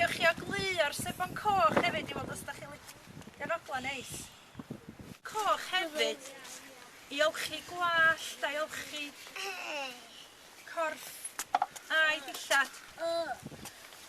Gewch chi ogleuo'r sebon coch hefyd i weld os da chi'n licio eroglau neis. Coch hefyd i olchi gwallt a'i olchi corff a'i dillad.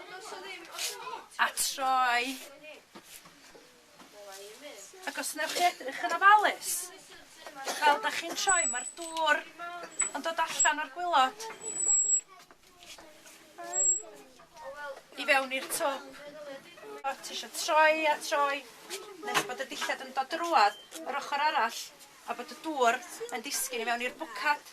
Ond os o ddim, os o ddim... A troi. Ac os newch chi edrych yn ofalus, fel 'dach chi'n troi, ma'r dŵr yn dod allan o'r gwilod i fewn i'r twb. O ti isio troi a troi nes bod y dillad yn dod drwadd yr ochor arall a bod y dŵr yn disgyn i fewn i'r bwcad.